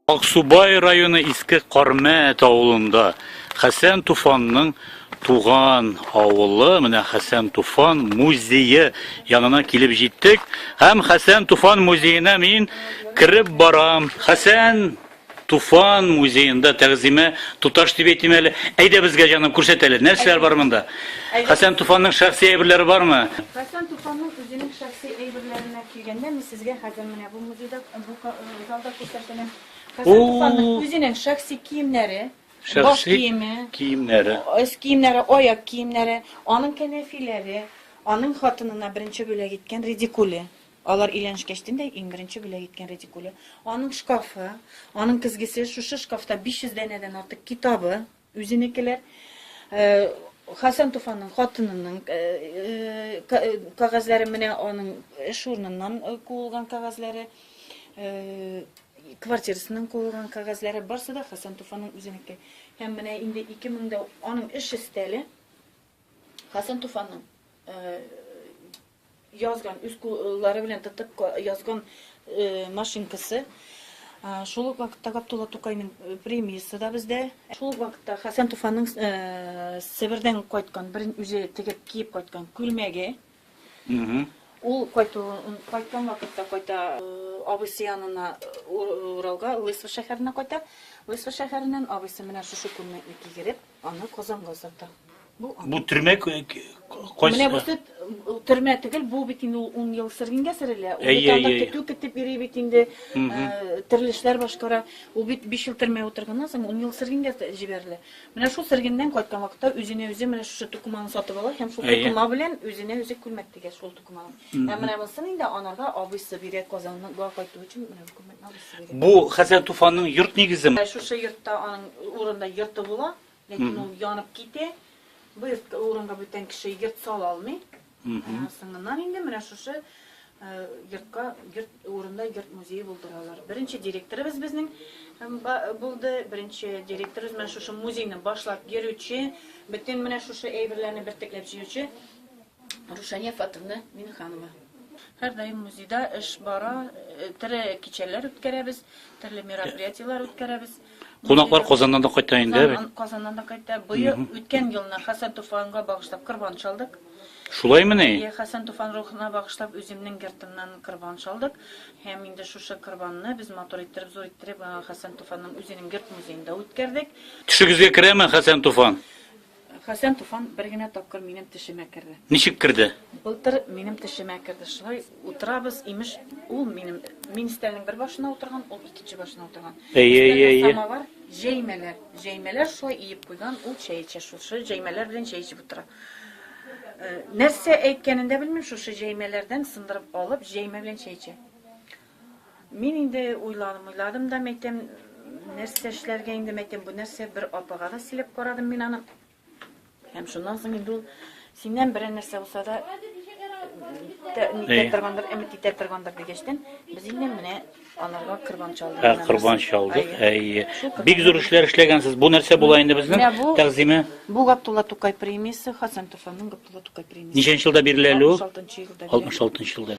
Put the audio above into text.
Аксубай районы Иске Кармәт авылында Хәсән Туфанның туган авылы, менә Хәсән Туфан музее янына килеп җиттек. Һәм Хәсән Туфан музеена мин кереп барам. Хәсән Туфан музеенда тәгъзимә туташ дип әйтим әле. Әйдә безгә җаным күрсәт әле, нәрсәләр бар монда? Хәсән Туфанның шәхси әйберләре бармы? Хәсән Туфанның үзенең шәхси әйберләренә килгәндә, мин сезгә хәзер менә бу музейда бу э, залда күрсәтәм. Хәсән Туфанның үзенең шәхси киемнәре, баш киеме, киемнәре, өс киемнәре, аяк киемнәре, аның кәнәфиләре, аның хатынына беренче бүләк иткән редикуле. Алар өйләнешкәчтен дә иң беренче бүләк иткән редикуле, аның шкафы, аның көзгесе, шушы шкафта 500 данәдән артык китабы, үзенекеләр, Хәсән Туфанның хатынының кәгазьләре, менә аның эш урыныннан куылган кәгазьләре, квартирасыннан куылган кәгазьләре, барсы да Хәсән Туфанның үзенеке. Һәм менә инде 2000 дә аның эш өстәле, Хәсән Туфанның язган, үз куллары белән тотып язган машинкасы. Шул ук вакытта Габдулла Тукайның премиясе да бездә. Шул ук вакытта Хәсән Туфанның Себердән кайткан, бер үзе тегеп киеп кайткан күлмәге. Ул кайткан вакытта кайта абыйсы янына Уралга, Лысва шәһәренә кайта. Лысва шәһәреннән абыйсы менә шушы күлмәкне кигереп, Аны Казанга сата. Бу аны. Бу төрмә кайсы? Менә бусы төрмә түгел, бу бит инде 10 ел сөргенгә сөрелә. Ул бит анда көтү көтеп йөри бит инде, төрле эшләр башкара. Ул бит 5 ел төрмә утырганнан соң 10 ел сөргенгә җибәрелә. Менә шул сөргеннән кайткан вакытта үзенә үзе менә шушы тукыманы сатып ала һәм шул тукыма белән үзенә үзе күлмәк тигә шул тукыманы. Ә менә бусын инде анарга абыйсы бирә Казанга кайту өчен менә Бу хәзер туфанның йорт нигезе. Ә шушы йортта аның урында йорты була, ләкин ул янып китә. Бу йортка урынга бүтән кеше йорт сала алмый. Соңыннан инде менә шушы йортка йорт урында йорт музее булдыралар. Беренче директорыбыз безнең булды. Беренче директорыбыз менә шушы музейны башлап йөрүче, бөтен менә шушы әйберләрне бертекләп җыючы Рушания Фатовна Минханова. Һәрдаим музейда эш бара, э, төрле кичәләр үткәрәбез, төрле мероприятиеләр үткәрәбез. Кунаклар Казаннан да кайта инде, әби. Казан- Казаннан да кайта. Быел үткән елны Хәсән Туфанга багышлап корбан чалдык. Шулаймы ни? Е, Хәсән Туфан рухына багышлап үземнең гертымнан корбан чалдык. Һәм инде шушы корбанны без матур иттереп, зур иттереп, аңа Хәсән Туфанның үзенең герт музеенда үткәрдек. Төшегезгә керәме Хәсән Туфан? Хәсән Туфан бер генә тапкыр минем тешемә керде. Ничек керде? Былтыр минем тешемә керде. Шулай утырабыз, имеш, ул минем мин өстәлнең бер башына утырган, ул икенче башына утырган. Әйе, әйе, әйе. Самовар, җәймәләр. Җәймәләр шулай иеп куйган, ул чәй эчә шушы җәймәләр белән чәй эчеп утыра. Нәрсә әйткәнен дә белмим, шушы җәймәләрдән сындырып алып, җәймә белән чәй эчә. Мин инде уйладым, уйладым да, мәйтәм, нәрсә эшләргә инде, мәйтәм, бу нәрсә, бер апага да сөйләп карадым мин аны. Һәм шуннан соң инде ул синнән берәр нәрсә булса да никтә торгандыр, өмет итә торгандыр дигәчтән, без инде менә аларга корбан чалдык. Ә корбан чалдык, әйе. Бик зур эшләр эшләгәнсез. Бу нәрсә була инде безнең тәгъзиме? Бу Габдулла Тукай премиясе, Хасан Туфанның Габдулла Тукай премиясе. Ничәнче елда бирелә әле ул? 66 елда. 66 елда.